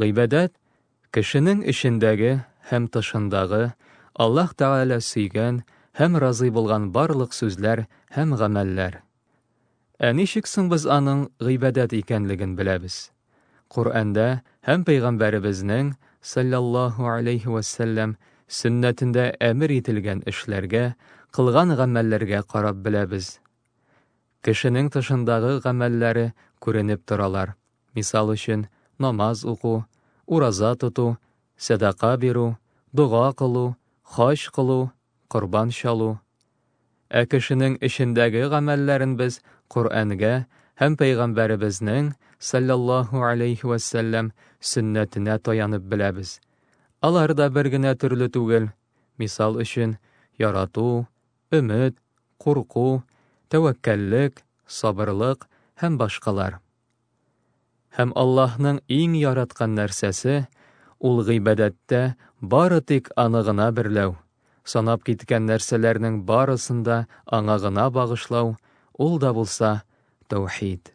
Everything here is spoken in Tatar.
Гыйбадәт, кешенең эчендәге һәм тышындагы, Аллаһ Тәгалә сөйгән һәм разый булган барлык сүзләр һәм гамәлләр. Ә ничек соң без аның гыйбадәт икәнлеген беләбез? Коръәндә һәм пәйгамбәребезнең, саллаллаһу алейһи вә сәлләм, сөннәтендә әмер ителгән эшләргә, кылган гамәлләргә карап беләбез. Кешенең тышындагы гамәлләре күренеп торалар, мисал өчен, намаз уку, ураза тоту, сәдака бирү, дога кылу, хаҗ кылу, корбан чалу. Ә кешенең эчендәге гамәлләрен без Коръәнгә һәм Пәйгамбәребезнең, салләллаһу гәләйһи вә сәлләм, сөннәтенә таянып беләбез. Алар да бер генә төрле түгел, мисал өчен, ярату, өмет, курку, тәвәккәллек, сабырлык һәм башкалар. Һәм Аллаһның иң яраткан нәрсәсе, ул гыйбадәттә бары тик аны гына берләү, санап киткән нәрсәләрнең барысын да аңа гына багышлау, ул да булса таухид.